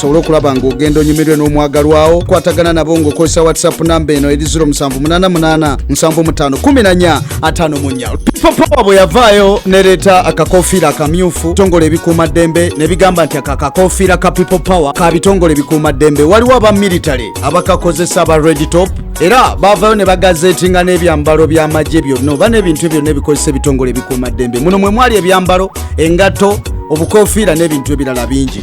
osobole okulaba ng'ogenda onyumirwe n'omwagalwawo kwatagana nabo ng'okozesa whatsapp namba eno eri 0788 75 14 atano munyal popowa bwe yavaayo nereeta akakofiira akamyufu tongole ebikuuma ddembe ne bigamba nti aka kakofiira ka people power ka bitongole ebikuuma ddembe waliwo aba military abakakozesa aba red top era baavayo ne bagazeetinga n'ebyambalo by'amagye byonna oba n'ebintu byonna ebikozesa ebitongole ebikuuma ddembe muno mwe mwali ebyambalo engatto obukofiira n'ebintu ebirala bingi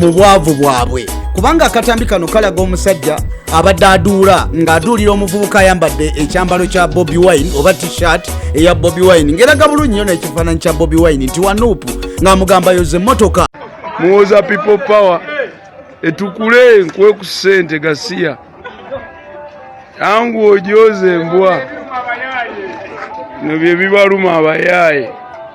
mu bwavu bwabwe kubanga akatambi kano kalaga omusajja abadde aduula ng'aduulira omuvubuka ayambadde ekyambalo kya bobi wine oba t-shirt eya bobi wine ng'eraga bulungi nyo n'ekifaananyi kya bobi wine nti wanuupu ng'amugamba yoza emmotoka muwoza people power etukule nkuwe ku ssente gasiya yangu ojooze embwa no bye bibaluma abayaaye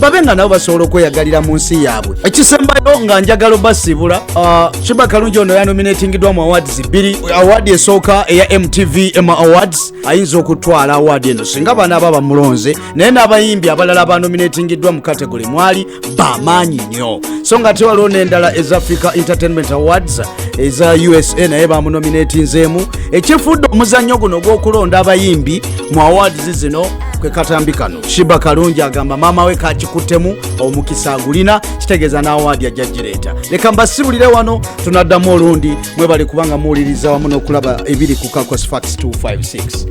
babe nga nabo basobola okweyagalira mu nsi yaabwe ekisembayo nga njagala obasiibula ah, shiba kalungi ono yanominatingidwa mu awards bbiri awaadi esooka eya mtv ema awards ayinza okutwala awaadi eno singa baana aba bamulonze naye n'abayimbi abalala banominatingiddwa mu kategole mwali bamaanyi nnyo so nga ate waliwo n'endala eza africa entertainment awards eza usa naye bamunominatinzeemu ekifuudde omuzannyo guno ogw'okulonda abayimbi mu awards zino kwe katambi kano shiba kalungi agamba maama we kakikuttemu omukisa agulina kitegeeza n'awaadi ajja gireeta leka mbasibulire wano tunaddamu olundi mwebale kubanga muwuliriza wamu n'okulaba ebiri ku kakos fax 256